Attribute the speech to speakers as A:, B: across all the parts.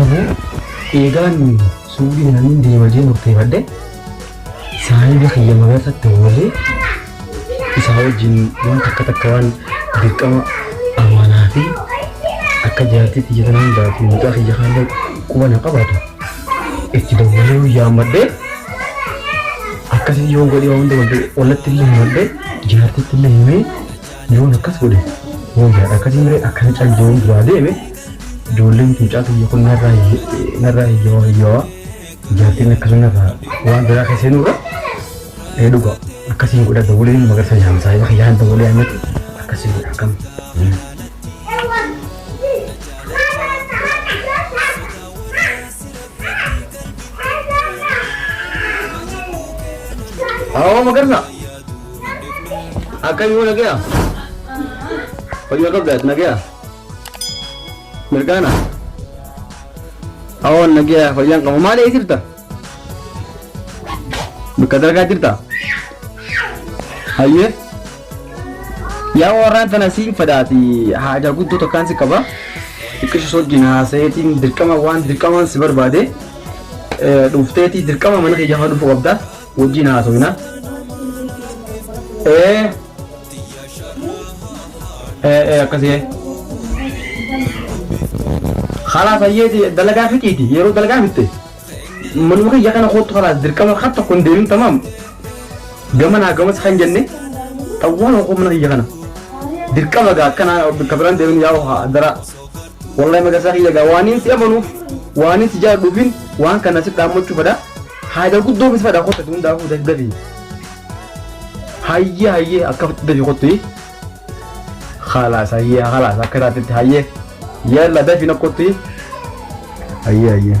A: Ammoo eegaan suuqii isaaniin deema jee murteeffadhe saahiba kiyya magarsatti oolee isaa wajjin waan takka takka waan dirqama amaanaa fi akka jaartiitti jedhan hundaa fi mucaa kiyya kaallee quba na qabaatu itti dawwalee guyyaa ammadhee akkasii yoon godhee waan hunda wallatti illee himadhee jaartitti illee himee Yoon akkas godhe wayyaadha akkasiin malee akkana cal jedheen duraa deeme ijoolleen fincaa tiyya kun narraa hiyye- narraa hiyyawaa hiyyawaa jaartiin akkana narraa waan biraa keessa seenurra ee dhuga akkasiin godha dawwalee nama garsa yaam saahiba kiyyaan dawwalee ammatti akkasiin godha akkam Awoo magarsa Akka yoo nagaya? Fayyaa qabdaas nagaya? Mirgaana? Awoon nagaya fayyaan qabu maal ee jirta? Bakka dalagaa jirta? Hayyee? Yaa warraan tana siin fadaati haajaa guddoo tokkaan si qaba. Xiqqisha soojjiin haasayeetiin dirqama waan dirqamaan si barbaade eh, dhufteetii dirqama mana kiyyaa fa'aa dhufuu qabda. wajjin haasofna. Ee, ee, ee, akkasii. Kalaas ayyeeti dalagaa fixiiti yeroo dalagaa fitte manuma kiyya kana kootu kalaas dirqama kan tokko hin deemin tamaam gama naa gamas kan jenne xawwaan hoo mana kiyya kana dirqama gaa akkana bakka biraan deemin yaa haa dara wallahi magarsaa kiyya gaa waaniin si amanuuf waaniin si jaalladhuufin waan kana si dhaammachuufadha. Haadha guddoo miti fadha kotta tun daakuu daddabi. Hayyee hayyee akka fatti dafi kotti. Khalaas hayyee khalaas akka taatitti hayyee. Yalla dafi na kotti. Hayyee hayyee.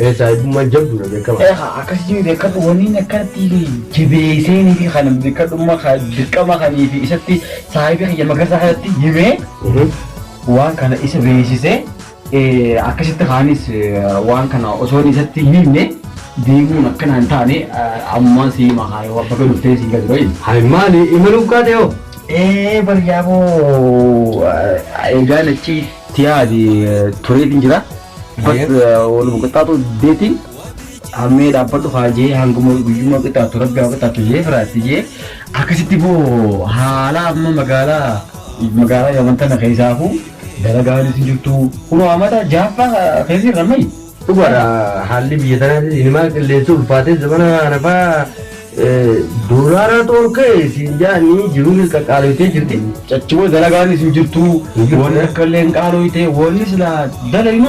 A: Ee saahibummaan jabduudha beekamaa. Ee kaa akkasitii bekkadhu waniin akkanatti jabeeseen fi kan bekkadhumma ka dirqama kanii fi isatti saahibii kiyya magarsaa kanatti himee waan kana isa beeksise akkasitti kaanis waan kana osoon isatti hin himne deemuun akkana hin taane ammaa sii hima kaa yoo baga dhuftee sii gadi bayin. Hay maali imaluuf kaate hoo? Ee bar yaaboo eegaan achi tiyaadi tureetiin jira. Uffat waluma qixxaatu deeti hammee dhaabbadhu haa jee hanguma guyyuma qixxaatu rabbi haa qixxaatu jee firaatti jee akkasitti boo haala amma magaalaa magaalaa yaman tana keessaafu dalagaanis hin jirtu kun haamata jaaffaa keessi irra mayi. Dhugaadha haalli biyya tanaatis inimaa qilleensi ulfaatee zamana hanafaa Doolaara dhorke siin jaani jiruun is qaqqaaloytee jirti. Cachuma dalagaanis hin jirtu. Wanni akka illee hin qaaloyte wanni silaa dalaynu.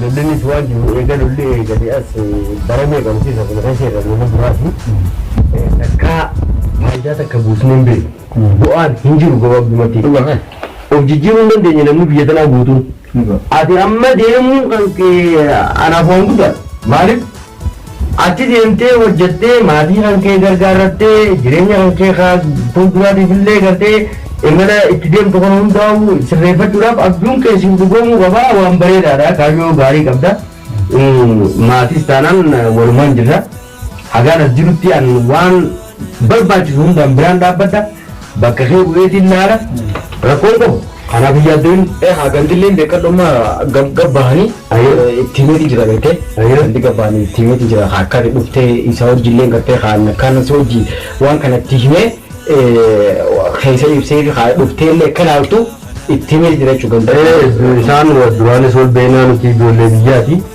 A: Lollinnis waan jiru eega lolli eegale as bara meeqa miti isa kana keessa irra lola duraati. Takkaa faayidaa takka buusnee hin beeknu. Bu'aan hin jiru gabaabdumatti. Of jijjiiruu hin dandeenye namni biyya tanaa guutuun. Ati amma deemuun kan kee anaaf waan guddaadha. Maaliif? Achi deemtee hojjettee maatii kan kee gargaarrattee jireenya kan kee ka fuulduraatiif illee gartee imala itti deemtu kana hundaa'u sirreeffachuudhaaf abjuun kee siif dhugoomuu qaba. Waan bareedaadha. Kaayyoo gaarii qabda. Maatiis taanaan walumaan jirra. Hagaan
B: as jirutti an waan barbaachisu hundaan biraan dhaabbadha. Bakka kee bu'eetiin laala. Rakkoon qabu. Kanaaf hin yaaddoyin. Ehaa gandilleen beekadhu
A: amma gab gab bahanii Ayyoo. eh, itti himeeti jira beektee Ayyoo. gandi gab bahanii itti himeeti jira haa akka ati dhuftee isa wajjillee gartee kaan akkaan si wajji waan kana itti himee eh, keessa ibsee fi haa dhuftee illee akka ilaaltu itti himeeti jira jechuudha gandi. Eh, isaan
B: duraanis wal beeknaa nuti ijoollee biyyaati.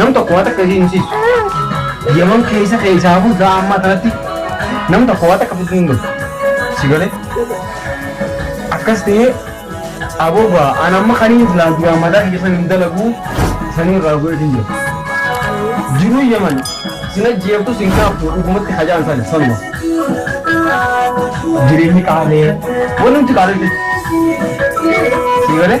B: Nam tokko waa takka isiin himsiisu. Yaman keessa keessaafuu sa'a ammaa tanatti nam tokko waa takka fiduu hin galu. Si galee? Akkas ta'ee abooga an amma kanii silaa duraan mataa kiyya san hin dalaguu sanii irraa godheetiin jira. Jiruu Yaman sin ajjeeftu sin kaaftu dhugumatti hajaan san sanuma. Jireenyi qaalee wanumti qaalee jechuudha. Si galee?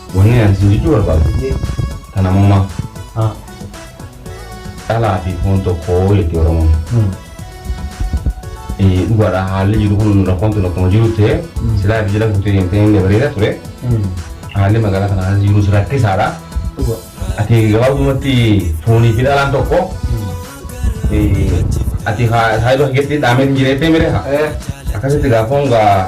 C: Wanni ani isin jechuu barbaadu ta namoomaa Haa. dhalaa fi foon tokko jetti Oromoon. Hmm. Eh, Dhugaadha haalli jiru kun rakkoon tun akkuma jiru ta'e Mm. silaa fi jala fuutee deemtee inni bareeda ture. Hmm. Haalli magaalaa kana keessa jirus rakkisaadha. Dhuga. Ati gabaabumatti foonii fi dhalaan tokko Hmm. eh, ati haa- saayidoo keessatti dhaamee hin jireettee mire haa. Eh. Akkasitti gaafoon gaa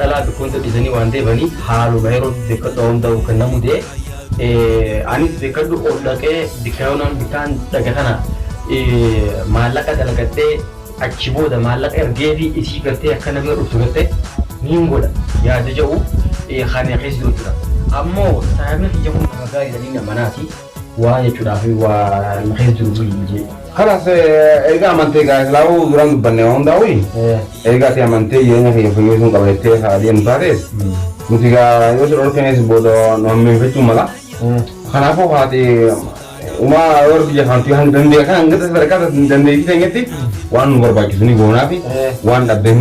B: dhalaa bikkonsa dhisanii waan deebanii haaluma yerootti bekkadhu awan da'uu kan na mudee anis bekkadhu ol dhaqee bikkayoonaan bikkaan dhaga kana maallaqa dalagadhee achi booda maallaqa ergeefi isii gartee akka namni dhuftu gartee niin godha yaada ja'u kan na keessa jiru jira ammoo saahibni kiyya kun nama gaariidha niin amanaati Waa jechuudhaa fi waa na keessa jiru buli jee. Kanas erga
C: amantee gaa islaamu duraan dubbanne waan hundaa'u erga ati amantee jireenya kiyya fooyyessuun qaba jettee haa deemtu taatees nuti gaa yoo si dhorkenes booda nu hammeeffachuu mala. Kanaafuu haati umaa yoo rabbi jafaantu hanga dandee kan hanga sadarkaa dandeettii teenyetti waan nu barbaachisu ni goonaafi waan dhabde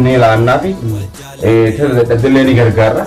C: ni laannaafi dadhabdellee ni gargaarra.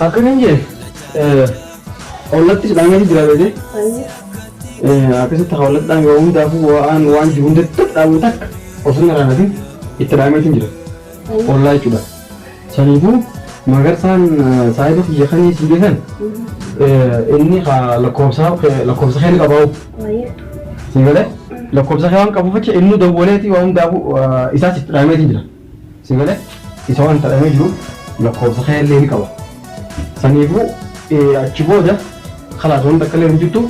B: Akka kan jee ollatti dhaamanii jira beekee akkasitti hawlatti dhaame waa hundaafuu waan waan jiru hundatti dhaamuu takka osoo hin raanatin itti dhaameetiin jira ollaa jechuudha. Saniifuu magarsaan saahiba kiyya kan isin geessan inni lakkoofsa lakkoofsa kee ni qabaa'u. Sii galee lakkoofsa kee waan qabuuf jecha inni dawwaleeti waan hundaafuu isaas itti dhaameetiin jira. Sii galee isa waan itti dhaamee jiruuf lakkoofsa kee illee ni qaba. Saniifuu achi booda kalaas wanta akka illee hin jirtu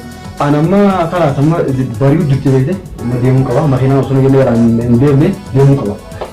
B: an amma kalaas amma bari'u jirti beekte amma deemuu qaba makiinaan osoo hin deemne deemuu qaba.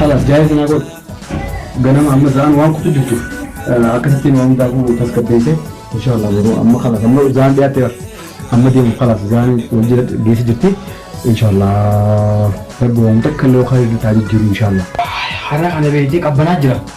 B: Halas jaayee sanaa godhu. Ganama amma zaan waan kutu jirtu akkasittiin waan hundaa kun tasgabbeessee inshaallah yeroo amma kalas amma zaan dhiyaatte bar amma deemu kalas zaan wal jira geessi jirti inshaallah rabbi waan takka illee waan jijjiiru inshaallah. Har'a kana beektee qabbanaa jira.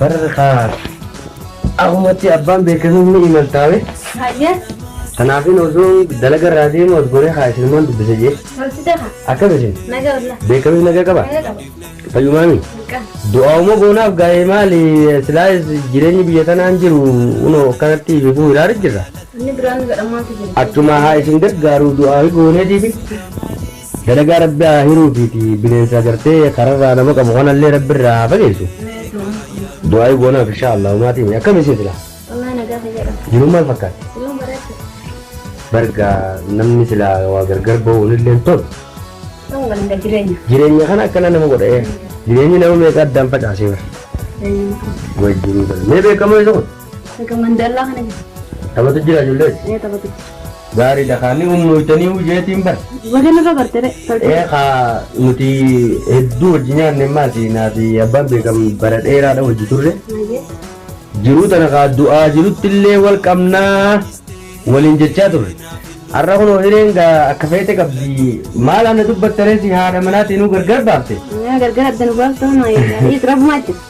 D: Bar kaa
B: ahumatti abbaan beekanuu ni imaltaa bee. Hayyee.
D: Kanaafin
B: osoo dalaga irraa deemu as goree haa isinummaan dubbisa jee. Tolchite haa.
D: Akkas isin Naga
B: olla. beekamni
D: nagaa qaba.
B: Naga qaba.
D: Fayyumaami.
B: Buqqaa.
D: Du'aa'uma goonaaf
B: gaa'ee maali silaa jireenyi biyya tanaan jiru unoo akkanatti bifuu hiraara jirra. Inni biraan godhamaa
D: fi jiru. Achuma haa isin
B: gargaaru du'aa'i gooneetiifi. Dalagaa rabbi haa hiruu ufiiti bineensa agartee kararraa nama qabu kanallee rabbi irraa haa fageessu du'aayi goonaaf inshaa allah umaatii mee akkam isin silaa Wallahi nagaa fayyaa
D: qabdi. jiruun maal fakkaatti Jiruun bareeddu. barga
B: namni silaa waa gargar ba'uun illee tolu Ta'uu waliin
D: gad jireenya. jireenya kana akkana nama
B: godha ee jireenyi nama meeqa addaan facaasee bara Jireenya. wajjiruu kana mee beekamoo isa kun Akka mandallaa
D: kana jira. Taphatu jira ijoollee.
B: Ee taphatu.
D: Gaarii dha kaanii
B: humnootanii hojjeetiin bar. Wadan irra barte
D: re. Ee kaa
B: nuti hedduu hojii nyaanne maati naa fi abbaan beekam bara dheeraadha hojii turre.
D: Jiruu tana
B: kaa du'aa jirutti illee wal qabnaa waliin jechaa turre. Har'a kunoo hireen gaa akka feete qabdi maal ana dubbattaree si haadha manaatiin gargar baafte. Gargar adda nu
D: baafte hunaa eegaa. Is rabbumaa jechuudha.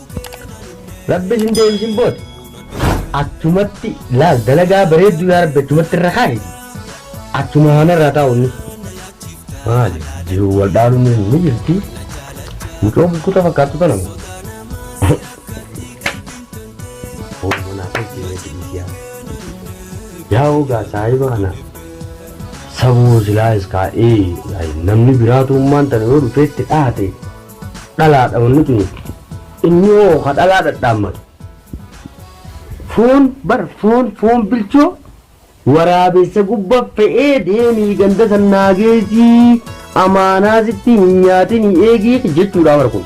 B: Rabbi sin deebisin booda achumatti laal dalagaa bareedduu yaa rabbi achumatti irra kaa'iti achuma haana irraa taa'u inni maali jiru wal dhaaluun ni jirti mucoo bukkuta fakkaattu tana moo Oromoo naaf hin jirre dhiisi yaa. Yaa ogaa saahiba kana sabuu silaa iskaa'ee namni biraatu ummaan tana yoo dhufeetti dhaate dhalaa dha wanni tuni. Inni hoo ka dhalaa dhadhaammatu. Foon bar foon foon bilchoo. Waraabessa gubba fe'ee deemii ganda san naa geessii amaanaa sitti hin nyaatinii eegii jechuudhaa bar kun.